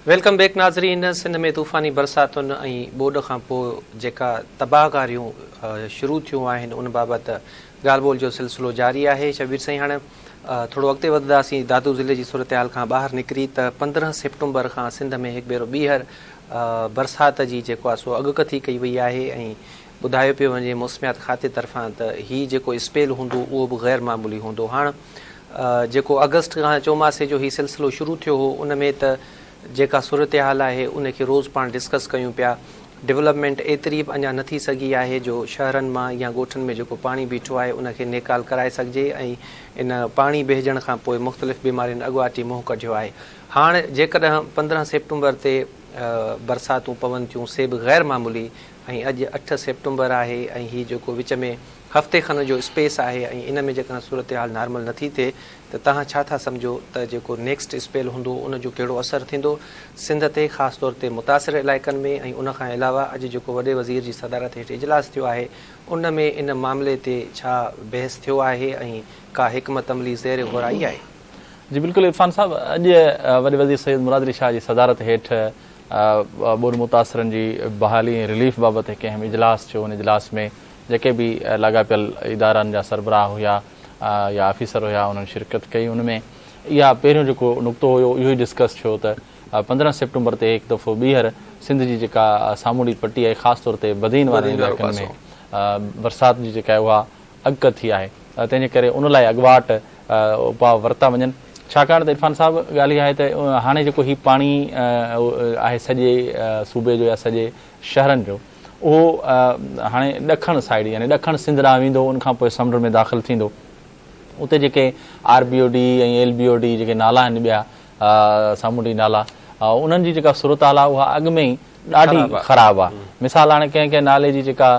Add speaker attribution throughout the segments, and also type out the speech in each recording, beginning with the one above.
Speaker 1: Welcome back ناظرين سنڌ ۾ طوفاني برساتن ۽ ٻوڏ کان پوء جيڪا تباهڪاريون شروع ٿيون آهن ان بابت ڳالهه ٻولهه جو سلسلو جاري آهي شبير سائين هاڻي ٿورو اڳتي وڌنداسين دادو ضلعي جي صورتحال کان ٻاهر نڪري ته پندرهن سيپٽمبر کان سنڌ ۾ هڪ ڀيرو ٻيهر برسات جي جيڪو آهي سو اڳڪٿي ڪئي وئي آهي ۽ ٻڌايو پيو وڃي موسميات کاتي طرفان ته هي جيڪو اسپيل هوندو اهو به غير معمولي هوندو هاڻ جيڪو آگسٽ کان چوماسي جو هي سلسلو شروع ٿيو هو ان ۾ ته جيڪا صورتحال آهي ان کي روز پاڻ ڊسڪس ڪيون پيا ڊولپمينٽ ايتري به اڃا نه ٿي سگهي آهي جو شهرن مان يا ڳوٺن ۾ جيڪو پاڻي بيٺو آهي ان کي نيڪال ڪرائي سگهجي ۽ ان پاڻي بهجڻ کان پوء مختلف بيمارين اڳواٽ ئي منهن ڪڍيو آهي هاڻ جيڪڏهن پندرهن سيپٽمبر تي برساتون پون ٿيون سي به غير معمولي ۽ اڄ اٺ سيپٽمبر آهي ۽ هي جيڪو وچ ۾ هفتي کن جو اسپيس آهي ۽ ان ۾ جيڪڏهن صورتحال نارمل نه ٿي ٿئي ته توهان ڇا ٿا سمجهو ته جيڪو نيڪسٽ اسپيل هوندو ان جو ڪهڙو اثر ٿيندو سنڌ تي خاص طور تي متاثر علائقن ۾ ۽ ان کان علاوه اڄ جيڪو وڏي وزير جي صدارت هيٺ اجلاس ٿيو آهي ان ۾ ان معاملي تي ڇا بحث ٿيو آهي ۽ ڪا حڪمت عملي زير غور آئي آهي. جي بلڪل عرفان
Speaker 2: صاحب اڄ وڏي وزير سيد مراد علي شاهه جي صدارت هيٺ ٻوڏ متاثرن جي بحالي ۽ رليف بابت هڪ اهم اجلاس ٿيو ان اجلاس ۾ جيڪي به لاڳاپيل ادارن جا سربراهه هيا يا آفيسر هيا انهن شرڪت ڪئي ان ۾ اها پهريون جيڪو نقطو هيو اهو ئي ڊسڪس ٿيو ته پندرهن سيپٽمبر تي هڪ دفعو ٻيهر سنڌ جي جيڪا سامونڊي پٽي آهي خاص طور تي بدين وارن علائقن ۾ برسات جي جيڪا اها اڳڪٿ ٿي آهي تنهن جي ڪري ان لاء اڳواٽ اپاء ورتا وڃن ڇاڪاڻ ته عرفان صاحب ڳالهه اها آهي ته هاڻي جيڪو هي پاڻي آهي سڄي صوبي جو يا سڄي شهرن جو اهو هاڻي ڏکڻ سائيڊ يعني ڏکڻ سنڌ ڏانهن ويندو ان کان پوء سمنڊ ۾ داخل ٿيندو اتي جيڪي R B O D ۽ L B O D جيڪي نالا آهن ٻيا سامونڊي نالا انهن جي جيڪا صورتحال آهي اها اڳ ۾ ئي ڏاڍي خراب آ مثال هاڻي ڪنهن ڪنهن نالي جي جيڪا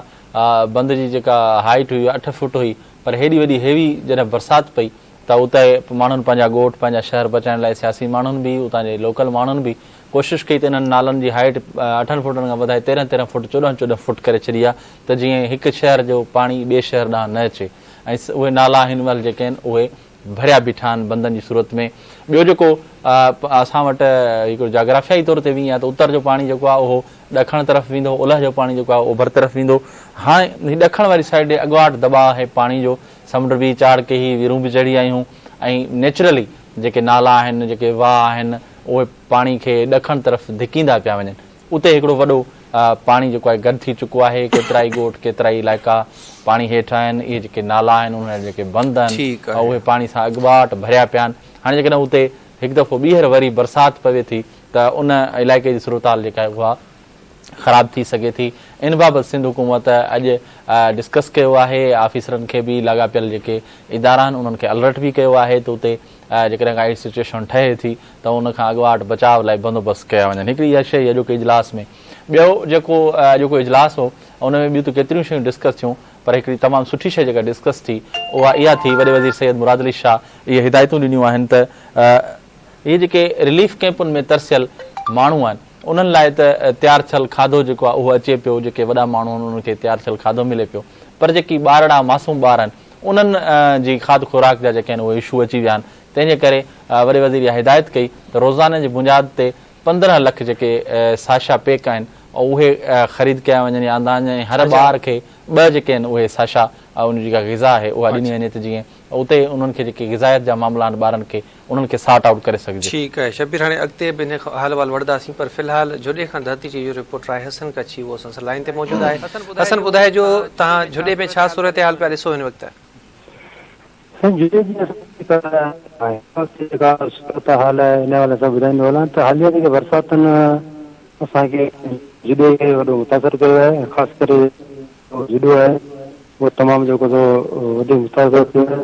Speaker 2: بند جي جيڪا هائيٽ هئي اٺ فوٽ هئي پر هيڏي وڏي هيوي جڏهن برسات پئي ته اتي ماڻهن پنهنجا ڳوٺ پنهنجا شهر بچائڻ لاء سياسي ماڻهن به اتان جي لوڪل ماڻهن به ڪوشش ڪئي ته انهن نالن جي هائيٽ اٺن فوٽن کان وڌائي تيرنهن تيرنهن فوٽ چوڏهن چوڏهن فوٽ ڪري ڇڏي آ ته جيئن هڪ شهر جو پاڻي ٻئي شهر ڏانهن نه اچي ۽ اهي نالا هن مهل جيڪي آهن اهي ڀريا بيٺا آهن بندن جي صورت ۾. ٻيو جيڪو اسان وٽ هڪڙو جاگرافيائي طور تي ويئي آهي ته اتر جو پاڻي جيڪو آهي اهو ڏکڻ طرف ويندو، اولهه جو پاڻي جيڪو آهي اوڀر طرف ويندو. هاڻ هي ڏکڻ واري سائيڊ ڏي اڳواٽ دٻاء آهي پاڻي جو، سمنڊ به چاڙهه ڪيهي، ويرون به چڙهي آيون ۽ نيچرلي جيڪي نالا آهن، جيڪي واهه آهن، اهي پاڻي کي ڏکڻ طرف ڌڪيندا پيا وڃن. اتي هڪڙو وڏو پاڻي جيڪو آهي گڏ ٿي چڪو آهي ڪيترائي ڳوٺ ڪيترائي علائقا پاڻي هيٺ آهن اهي جيڪي نالا آهن انهن جا جيڪي بند آهن اهي پاڻي سان اڳڀاٽ ڀريا پيا آهن هاڻي جيڪڏهن اتي هڪ دفعو ٻيهر وري برسات پوي ٿي ته ان علائقي جي صورتحال جيڪا آهي اها خراب ٿي سگهي ٿي ان بابت سنڌ حڪومت اڄ ڊسڪس ڪيو آهي آفيسرن کي به لاڳاپيل جيڪي ادارا آهن انهن کي الرٽ به ڪيو آهي ته اتي جيڪڏهن ڪا اهڙي سچوئيشن ٺهي ٿي ته ان کان اڳواٽ بچاء لاء بندوبست ڪيا وڃن. هڪڙي اها شيء اڄوڪي اجلاس ۾ ٻيو جيڪو اڄوڪو اجلاس هو ان ۾ ٻيون ته ڪيتريون شيون ڊسڪس ٿيون پر هڪڙي تمام سٺي شيء جيڪا ڊسڪس ٿي اها اها ٿي وڏي وزير سيد مراد علي شاهه اهي هدايتون ڏنيون آهن ته اهي جيڪي رليف ڪئمپن ۾ ترسيل ماڻهو آهن انهن لاء ته تيار ٿيل کاڌو جيڪو آهي اهو اچي پيو جيڪي وڏا ماڻهو آهن انهن کي تيار ٿيل کاڌو ملي پيو پر جيڪي ٻارڙا معصوم ٻار آهن انهن جي کاڌ خوراڪ جا جيڪي آهن اهي اشو اچي ويا آهن تنهن جي ڪري وڏي وزير اها هدايت ڪئي ته روزاني جي بنياد تي پندرهن لک جيڪي ساشا پيڪ آهن اهي خريد ڪيا وڃن يا آندا وڃن ۽ هر ٻار کي ٻه جيڪي آهن اهي ساشا ان جي جيڪا غذا آهي اها ڏني وڃي ته جيئن اتي انهن کي جيڪي غذائيت جا معاملا آهن ٻارن کي انهن کي سارٽ آئوٽ ڪري سگهجي. ٺيڪ آهي شبير هاڻي اڳتي
Speaker 1: به انهي حال وال وڙهداسين پر في الحال جهڏي کان ڌرتي جي اهو رپورٽر آهي حسن ڪڇي اهو اسان سان لائين تي موجود آهي حسن ٻڌائجو تهان جهڏي ۾ ڇا صورتحال پيا ڏسو هن وقت. سائين جهڏي جي جيڪا
Speaker 3: صورتحال آهي ان حوالي سان ٻڌائيندو هلان ته حاليه جيڪي برساتن اسان کي جهڏي کي وڏو متاثر ڪيو آهي ۽ خاص ڪري جهڏو آهي اهو تمام جيڪو سو وڌيڪ متاثر ٿيو آهي.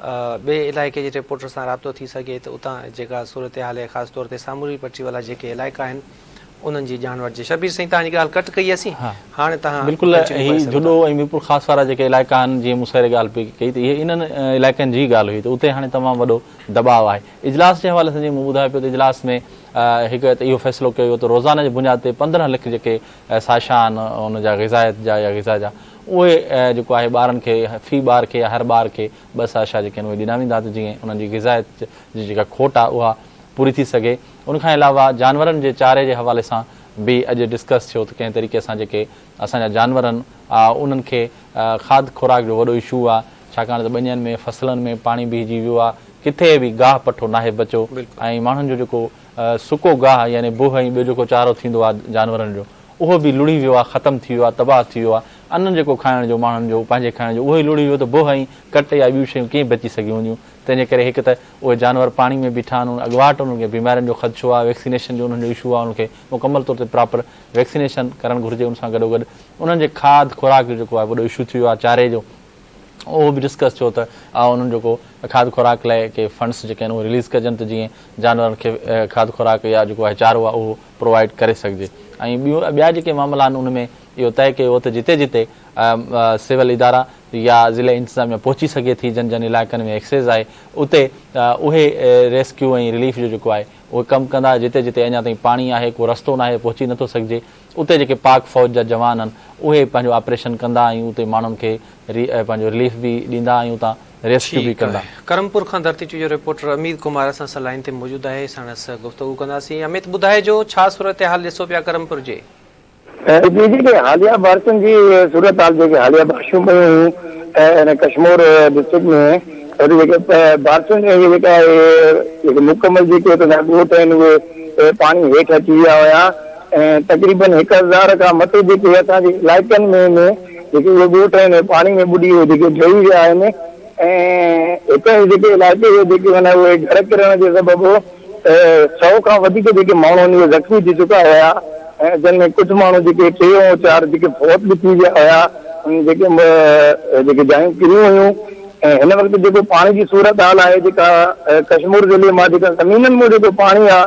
Speaker 1: ٻئي علائقي جي رپورٽر سان رابطو ٿي سگهي ته اتان جيڪا صورتحال آهي خاص طور تي ساموري پٽي وارا جيڪي علائقا آهن انهن جي ڄاڻ وٺجي شبير سائين توهان جي ڳالهه ڪٽ ڪئي اسين هاڻي توهان بلڪل هي جهڏو
Speaker 2: ۽ ميرپور خاص وارا جيڪي علائقا آهن جيئن مون سهري ڳالهه پئي ڪئي ته اهي انهن علائقن جي ڳالهه هئي ته اتي هاڻي تمام وڏو دٻاء آهي اجلاس جي حوالي سان جيئن مون ٻڌايو پيو ته اجلاس ۾ هڪ ته اهو فيصلو ڪيو ويو ته روزانه جي بنياد تي پندرهن لک جيڪي ساشا آهن ان جا غذائيت جا يا غذا جا اهي جيڪو آهي ٻارن کي في ٻار کي يا هر ٻار کي ٻه ساشا جيڪي آهن اهي ڏنا ويندا ته جيئن انهن جي غذائيت جي جيڪا کوٽ آهي اها پوري ٿي سگهي ان کان علاوه جانورن جي چاري جي حوالي سان به اڄ ڊسڪس ٿيو ته ڪنهن طريقي سان جيڪي اسان جا جانور آهن انهن کي کاڌ خوراڪ جو وڏو ايشو آهي ڇاڪاڻ ته ٻنين ۾ فصلن ۾ پاڻي بيهجي ويو آهي ڪٿي به گاهه پٺو ناهي بچو ۽ ماڻهن جو جيڪو سڪو گاهه يعني بوهه ۽ ٻيو جيڪو چارو ٿيندو آ جانورن جو اهو به لڙهي ويو آ ختم ٿي ويو آ تباهه ٿي ويو آ انن جيڪو کائڻ جو ماڻهن جو پنهنجي کائڻ جو اهو ئي لڙهي ويو ته بوهه ۽ ڪٽ يا ٻيون شيون ڪئين بچي سگهيون هونديون تنهن جي ڪري هڪ ته اهي جانور پاڻي ۾ بيٺا آهن اڳواٽ انهن کي بيمارين جو خدشو آ ويڪسينيشن جو انهن جو اشو آ انهن کي مڪمل طور تي پراپر ويڪسينيشن ڪرڻ گهرجي ان سان گڏوگڏ انهن جي کاڌ خوراڪ جو جيڪو آ وڏو اشو ٿي ويو آ چاري جو اهو به ڊسڪس ٿيو ته آء انهن جو ڪو کاڌ خوراڪ لاء ڪي فنڊس جيڪي آهن اهي رليز ڪجن ته جيئن جانورن کي کاڌ خوراڪ يا جيڪو آهي چارو آهي اهو پرووائيڊ ڪري سگهجي ۽ ٻيون ٻيا جيڪي معاملا آهن ان ۾ اهو طئي ڪيو ويو ته جتي جتي سول ادارا يا ضلعي انتظاميا پهچي سگهي ٿي جن جن علائقن ۾ ايڪسيز آهي اتي اهي ريسڪيو ۽ رليف جو جيڪو آهي اهي ڪم ڪندا جتي جتي اڃا تائين پاڻي آهي ڪو رستو ناهي پهچي نٿو سگهجي اتي جيڪي پاڪ فوج جا جوان آهن اهي پنهنجو آپريشن ڪندا ۽ اتي ماڻهن کي ري پنهنجو رليف به ڏيندا ۽ اتان ريسڪيو به ٺيڪ ڪندا. آهي ڪرمپور کان ڌرتي
Speaker 1: چويو رپورٽر اميد ڪمار اسان سان لائين تي موجود آهي ساڻس گفتگو ڪنداسين اميت ٻڌائجو ڇا صورتحال ڏسو پيا ڪرمپور جي. جي
Speaker 4: جيڪي حاليه بارشن جي صورتحال جيڪي حاليه بارشون پيون هيون ان ڪشمور ڊسٽرڪٽ ۾ اتي جيڪي بارشن جي جيڪا جيڪي مڪمل جيڪي اتي جا ڳوٺ آهن اهي پاڻي هيٺ اچي ويا هيا ۽ تقريبن هڪ هزار کان مٿي جيڪي اسان جي علائقن ۾ ۾ جيڪي اهي ڳوٺ آهن اهي پاڻي ۾ ٻڏي اهي جيڪي ڊهي ويا آهن ۽ هڪ جيڪي علائقي جي جيڪي معنيٰ اهي گهر ڪرڻ جي سبب ته سؤ کان وڌيڪ جيڪي ماڻهو آهن اهي زخمي ٿي چڪا هيا ۽ جن ۾ ڪجهه ماڻهو جيڪي ٽي ۽ چار جيڪي فوت به ٿي ويا هيا انهن جيڪي جيڪي جايون ڪريون هيون ۽ هن وقت جيڪو پاڻي جي صورتحال آهي جيڪا ڪشمور ضلعي مان جيڪا زمينن مان جيڪو پاڻي آهي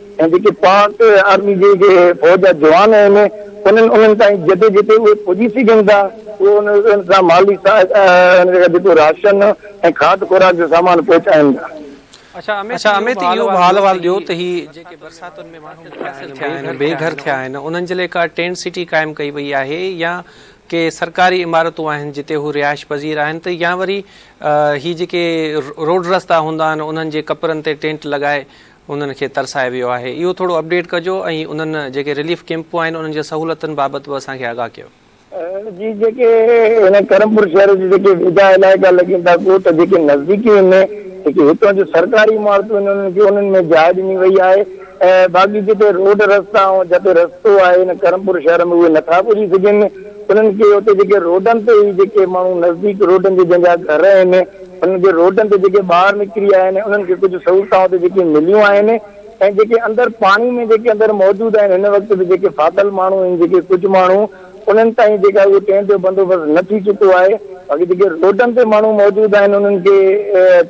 Speaker 4: ۽ جيڪي پاڪ آرمي جي جي فوج جا جوان آهن انهن انهن تائين جتي جتي اهي پڄي سگهن ٿا اهي انهن سان مالي سهائتا جيڪو راشن ۽ کاڌ خوراڪ جو سامان پهچائين ٿا. اڇا
Speaker 1: اميت اهو به حال احوال ڏيو ته هي جيڪي برساتن ۾ ماڻهو متاثر ٿيا آهن بي گهر ٿيا آهن انهن جي لاء ڪا ٽينٽ سٽي قائم ڪئي وئي آهي يا ڪي سرڪاري عمارتون آهن جتي هو رهائش پذير آهن ته يا وري هي جيڪي روڊ رستا هوندا آهن انهن جي ڪپرن تي ٽينٽ لڳائي انهن کي ترسايو ويو آهي اهو ٿورو اپڊيٽ ڪجو ۽ انهن جيڪي رليف ڪيمپون آهن انهن جي سهولتن بابت به اسان کي آگاهه ڪيو. جي جيڪي
Speaker 4: هن ڪرمپور شهر جي جيڪي ويجها علائقا لڳين ٿا ڳوٺ جيڪي نزديڪي ۾ جيڪي هتان جون سرڪاري عمارتون آهن انهن کي انهن ۾ جاء ڏني وئي آهي ۽ باقي جتي روڊ رستا ۽ جتي رستو آهي هن ڪرمپور شهر ۾ اهي نٿا پڄي سگهن انهن کي اتي جيڪي روڊن تي ئي جيڪي ماڻهو نزديڪ روڊن جي جنهن جا گهر آهن هن جي روڊن تي جيڪي ٻاهر نڪري آيا آهن انهن کي ڪجهه سهولتان اتي جيڪي مليون آهن ۽ جيڪي اندر پاڻي ۾ جيڪي اندر موجود آهن هن وقت به جيڪي ڦاٿل ماڻهو آهن جيڪي ڪجهه ماڻهو انهن تائين جيڪا اهو ٽينٽ جو بندوبست نه ٿي چڪو آهي باقي جيڪي روڊن تي ماڻهو موجود آهن انهن کي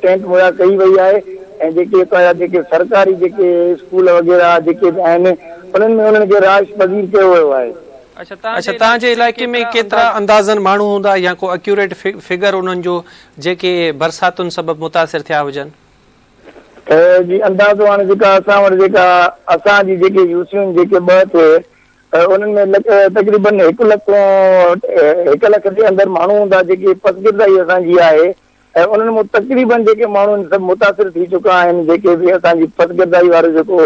Speaker 4: ٽينٽ مهيا ڪئي وئي آهي ۽ جيڪي اتان جا جيڪي سرڪاري جيڪي اسڪول وغيره جيڪي به آهن انهن ۾ انهن کي رهائش پذير ڪيو ويو آهي. اڇا
Speaker 1: تان جي علائقي ۾ ڪيترا اندازن ماڻهو هوندا يا ڪو اڪيوريٽ فگر انهن جو جيڪي برساتن سبب متاثر ٿيا هجن.
Speaker 4: جي اندازو هاڻي جيڪا اسان وٽ جيڪا اسان جي جيڪي يو سيون جيڪي ٻه ٿي انهن ۾ تقريبن هڪ لک کون هڪ لک جي اندر ماڻهو هوندا جيڪي پسگردائي اسان جي آهي ۽ انهن مان تقريبن جيڪي ماڻهو ان سبب متاثر ٿي چڪا آهن جيڪي به اسان جي پسگردائي وارو جيڪو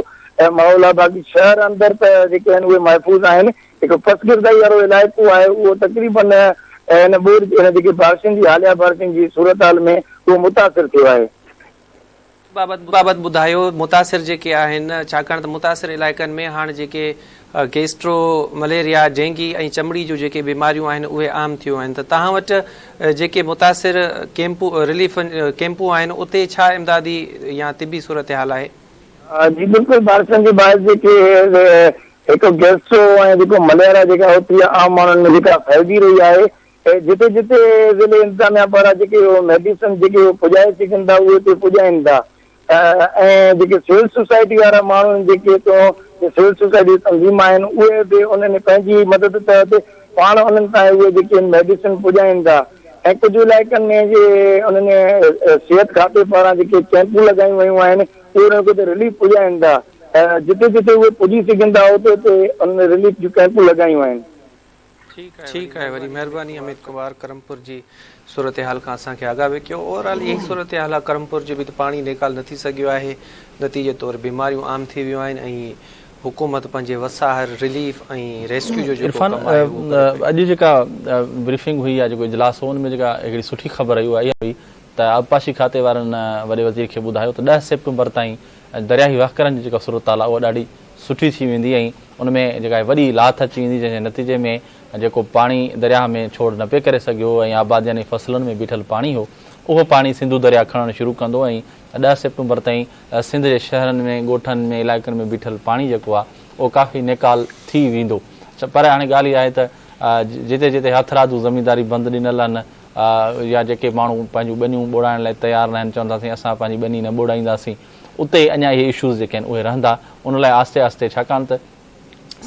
Speaker 4: ماحول آهي باقي شهر اندر ته جيڪي آهن اهي محفوظ آهن جيڪو پسگردائي وارو علائقو آهي اهو تقريبن ان ٻوڏ جي ان جيڪي بارشن جي حاليا بارشن جي صورتحال ۾ اهو متاثر ٿيو آهي
Speaker 1: بابت ٻڌايو متاثر جيڪي آهن ڇاڪاڻ ته متاثر علائقن ۾ هاڻ جيڪي گيسٽرو، مليريا، ڊينگي ۽ چمڙي جون جيڪي بيماريون آهن اهي عام ٿيون آهن ته توهان وٽ جيڪي متاثر ڪيمپون رليف ڪيمپون آهن اتي ڇا امدادي يا طبي صورتحال آهي؟ جي بلڪل
Speaker 4: بارشن جي باعث جيڪي هڪ گيسٽرو ۽ جيڪو مليريا جيڪا اتي عام ماڻهن ۾ جيڪا ڦهلجي رهي آهي اهي جتي جتي ضلعي انتظاميا پاران جيڪي اهي ميڊيسن جيڪي اهي پڄائي سگهن ٿا اهي اتي پڄائين ٿا ۽ جيڪي سول سوسائٽي وارا ماڻهو آهن جيڪي هتون جي سول سوسائٽي جي تنظيم آهن اهي به انهن پنهنجي مدد تحت پاڻ انهن تائين اهي جيڪي آهن ميڊيسن پڄائين ٿا ۽ ڪجهه علائقن ۾ جي انهن صحت کاتي پاران جيڪي ڪيمپون لڳايون ويون آهن اهي انهن کي اتي رليف پڄائين ٿا جتي جتي اهي پڄي سگهن ٿا اتي اتي انهن رليف جون ڪيمپون لڳايون آهن ٺيڪ
Speaker 1: آهي وري مهرباني اميد ڪمار ڪرمپور جي صورتحال کان اسان کي آگاهه به ڪيو اوور آل اهي ئي صورتحال آهي ڪرمپور جي به ته پاڻي نيڪال نه ٿي سگهيو آهي نتيجي طور بيماريون عام ٿي ويون آهن ۽ حڪومت پنهنجي وساهر رليف ۽ ريسڪيو جو جيڪو ڪم آهي اهو ڪري
Speaker 2: پئي. اڄ جيڪا بريفنگ هئي يا جيڪو اجلاس هو ان ۾ جيڪا هڪڙي سٺي خبر رهي اها اها هئي ته آبپاشي کاتي وارن وڏي وزير کي ٻڌايو ته ڏهه سيپٽمبر تائين درياهي وهڪرن جي جيڪا صورتحال آهي اها ڏاڍي سٺي ٿي ويندي ۽ ان ۾ جيڪا آهي وڏي لاٿ اچي ويندي جنهن جي نتيجي ۾ جيڪو پاڻي درياهه ۾ ڇوڙ نه پئي ڪري سگهيو هو ۽ آبادين ۽ فصلن ۾ بيٺل پاڻي هو اهو پاڻي سنڌو درياهه کڻڻ شروع ڪندو ۽ ڏهه سيپٽمبر تائين سنڌ جي شهرن ۾ ڳوٺن ۾ علائقن ۾ بيٺل پاڻي جيڪو آهي اهو ڪافي نيڪال ٿي ويندو پر هاڻي ڳالهه اها آهي ته جتي جتي هٿرادو زمينداري بند ڏنل آهن يا جيڪي ماڻهو پنهنجون ٻنيون ٻوڙائڻ لاء تيار ناهن چون ٿا سائين اسان پنهنجي ٻني نه ٻوڙائينداسين اتي اڃا اهي اشوز جيڪي آهن اهي رهندا ان لاء آهستي آهستي ڇاڪاڻ ته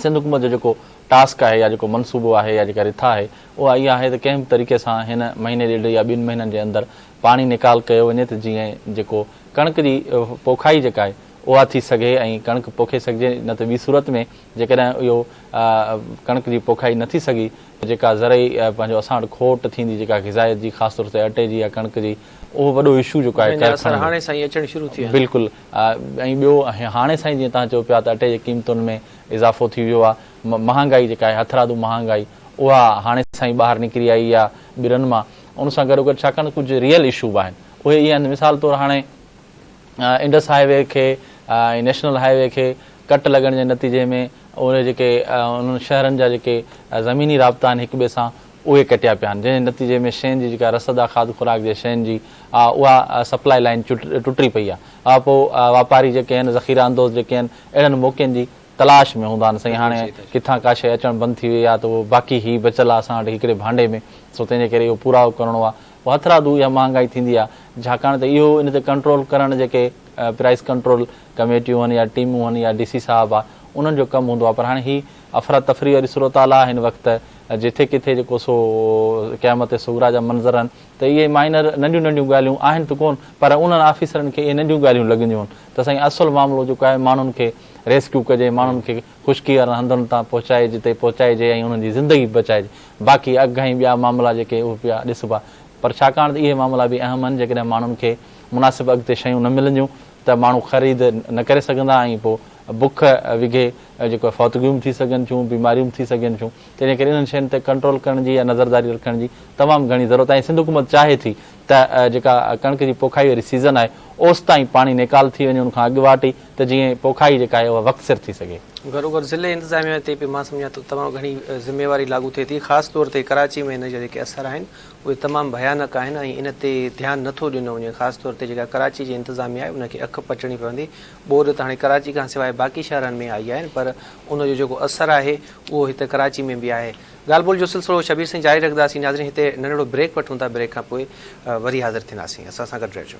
Speaker 2: سنڌ حڪومت جو جيڪو ٽاسڪ آهي يا جيڪو منصوبو آهي يا جيڪا رٿا آهي اها اها آهي ته ڪنهن به طريقي سان هن مهيني ڏيڍ يا ٻن مهينن جي اندر پاڻي نيڪال ڪيو وڃي ته جيئن جيڪو ڪڻڪ جي پوکائي جيڪا آهي اها ٿي سگهي ۽ ڪڻڪ پوکي سگهجي نه ته ٻي صورت ۾ جيڪڏهن اهو ڪڻڪ جي پوکائي نه ٿي سگهي ته جيڪا زرعي پنهنجو اسان وٽ کوٽ ٿيندي جيڪا غذائيت جي خاص طور تي اٽي جي يا ڪڻڪ جي اهو وڏو اشو جيڪو آهي ڪرخانن جو. اثر هاڻي سائين اچڻ شروع ٿي ويا آهن. بلڪل ۽ ٻيو هاڻي سائين جيئن توهان چئو پيا ته اٽي جي قيمتن ۾ اضافو ٿي ويو آهي مهانگائي جيڪا آهي هٿرادو مهانگائي اها هاڻي سائين ٻاهر نڪري آئي آهي ٻرن مان ان سان گڏوگڏ ڇاڪاڻ ته ڪجهه ريئل اشو به آهن اهي اهي آهن مثال طور هاڻي انڊس هاء وي کي ۽ نيشنل هاء وي کي ڪٽ لڳڻ جي نتيجي ۾ اهي جيڪي انهن شهرن جا جيڪي زميني رابطا آهن هڪ ٻئي سان اهي ڪٽيا پيا آهن جنهن جي نتيجي ۾ شين جي جيڪا رسد آهي کاڌ خوراڪ جي شين جي اها سپلائي لائين ٽٽي پئي آهي اها پوء واپاري جيڪي آهن ذخيره اندوز جيڪي آهن اهڙن موقعن جي تلاش ۾ هوندا آهن سائين هاڻي ڪٿان ڪا شيء اچڻ بند ٿي وئي آهي ته اهو باقي هي بچل آهي اسان وٽ هڪڙي ڀانڊي ۾ سو تنهن جي ڪري اهو پورائو ڪرڻو آهي پوء هٿرادو اها مهانگائي ٿيندي آهي ڇاڪاڻ ته اهو ان تي ڪنٽرول ڪرڻ جيڪي پرائس ڪنٽرول ڪميٽيون آهن يا ٽيمون آهن يا ڊي سي صاحب آهي انهن جو ڪم هوندو آهي پر هاڻي هي افراتفري واري صورتحال آ هن وقت جٿي ڪٿي جيڪو سو قيامت صغريٰ جا منظر آهن ته اهي مائنر ننڍيون ننڍيون ڳالهيون آهن ته ڪون پر انهن آفيسرن کي اهي ننڍيون ڳالهيون لڳنديون ته سائين اصل معاملو جيڪو آهي ماڻهن کي ريسڪيو ڪجي ماڻهن کي خشڪي وارن هنڌن تان پهچائي جتي پهچائجي ۽ انهن جي زندگي به بچائجي باقي اگهه ۽ ٻيا معاملا جيڪي اهي پيا ڏسبا پر ڇاڪاڻ ته اهي معاملا به اهم آهن جيڪڏهن ماڻهن کي مناسب اگهه تي شيون نه ملنديون ته ماڻهو خريد نه ڪري سگهندا ۽ پوء بک وگهي جيڪو آهي فوتگيون به ٿي سگهن ٿيون، بيماريون به ٿي سگهن ٿيون تنهنجي ڪري انهن شين تي ڪنٽرول ڪرڻ جي يا نظرداري رکڻ جي تمام گهڻي ضرورت آهي ۽ سنڌ حڪومت چاهي ٿي ته جيڪا ڪڻڪ جي پوکائي واري سيزن آهي اوس تائين پاڻي نيڪال ٿي وڃي ان کان اڳ واٽ ئي ته جيئن پوکائي جيڪا آهي اها وقت سر ٿي سگهي. گهروگهر ضلعي
Speaker 1: انتظاميا تي به مان سمجهان ٿو تمام گهڻي ذميواري لاڳو ٿئي ٿي خاص طور تي ڪراچي ۾ ان جا جيڪي اثر آهن اهي تمام ڀيانڪ آهن ۽ ان تي ڌيان نٿو ڏنو وڃي خاص طور تي جيڪا ڪراچي جي انتظاميا آهي ان کي اک پٽڻي پوندي ٻوڏ ته هاڻي ڪراچي کان سواء باقي شهرن ۾ آئي آهي پر ان جو جيڪو اثر آهي اهو هت ڪراچي ۾ به آهي. ڳالهه ٻولهه جو سلسلو شبير سائين جاري رکنداسين ناظرين هتي ننڍڙو بريڪ وٺون ٿا بريڪ کان پوء وري حاضر ٿينداسين اسان سان گڏ رهجو.